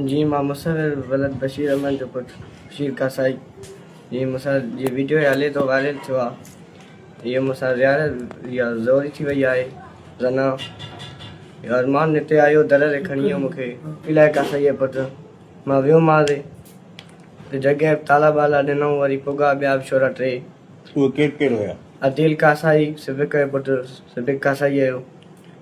جي مان مصور ولد بشير احمد جو پٽ بشير ڪاسائي جي مون سان جي ويڊيو ۾ هلي ٿو وائرل ٿيو آ اهي مون سان رياڙ رياء زوري ٿي وئي آهي زنا ارمان نتي آيو در ري کڻي مون کي الائي ڪاسائي جي پٽ مان ويو مان ري ته جڳهه تالا بالا ڏنائون وري پوگا ٻيا به ڇورا ٽي اهي ڪير ڪير هيا عديل ڪاسائي صديق جو پٽ صديق ڪاسائي جو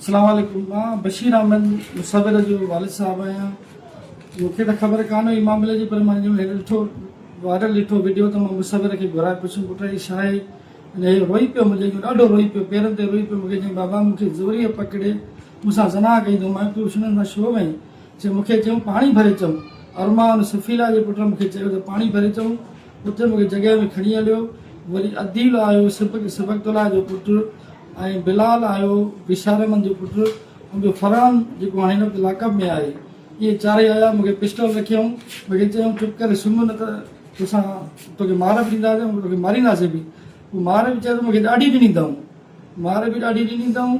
اسلام عليڪم مان بشير احمد مصور جو والد صاحب آهيان مون کي ته خبر ڪانه هئي معاملي جي پر مان جو هي ڏٺو وائرل ڏٺو ويڊيو ته مان مصور کي گهرائي پڇيم پٽ هي ڇا آهي ۽ هي روئي پيو مون جي ڏاڍو روئي پيو پيرن تي روئي پيو مون کي چيائين بابا مون کي زوريء پڪڙي مون سان زنا ڪئي اٿئون مان چيو شنن سان ڇو وئين چيائين مون کي چيائون پاڻي ڀري چون ارمان سفيرا جي پٽ مون کي چيو ته پاڻي ڀري چون اتي مون کي جڳهه ۾ کڻي هليو. وري عديل آيو سبڪتالله جو پٽ ۽ بلال آيو بشارمن جو پٽ ۽ ٻيو فرحان جيڪو هاڻي هن وقت لاڪ اپ ۾ آهي. اهي چارئي آيا مون کي پسٽل رکيائون. مون کي چيائون چپ ڪري سمهه نه ته توسان توکي مار به ڏينداسين ۽ توکي مارينداسين به. پوء مار به چيائون ته مون کي ڏاڍي به ڏيندائون. مار به ڏاڍي ڏني اٿائون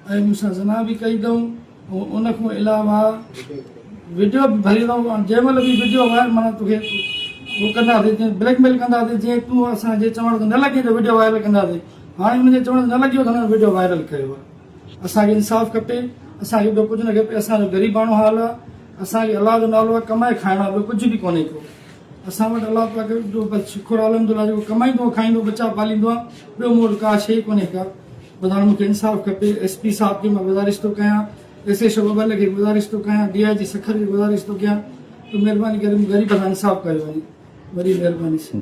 ۽ مون سان زنا به ڪئي اٿائون. ان کان علاوه وڊيو به ڀريندو مان جنهن مهل به وڊيو وائر مانا توکي هو ڪنداسي جيئن بليڪ ميل ڪنداسي جيئن تون اسان جي چوڻ تي نه لڳين ته وڊيو وائرل ڪنداسي هاڻي انهن جي چوڻ تي نه لڳيو ته هنن وڊيو وائرل ڪيو آهي اسان کي انصاف کپي اسان کي ٻيو ڪجهه نه کپي اسان جو غريباڻو حال آهي اسان کي الله جو نالو آهي ڪمائي کائڻ آهي ٻيو ڪجهه به ڪونهي ڪو اسان وٽ الله پاڪ جو بس شڪر الحمدلله جيڪو ڪمائيندو کائيندو ٻچا پاليندو آهي ٻيو مون وٽ ڪا شيء ڪونهي ڪا ٻڌايو مون کي انصاف کپي، ايس پي صاحب کي مان گذارش ٿو ڪيان، ايس ايڇ او ٻٻل کي گذارش ٿو ڪيان، ڊي آء جي سکر کي گذارش ٿو ڪيان ته مھرباني ڪري مون غريب سان انصاف ڪيو وڃي. وڏي مھرباني سان.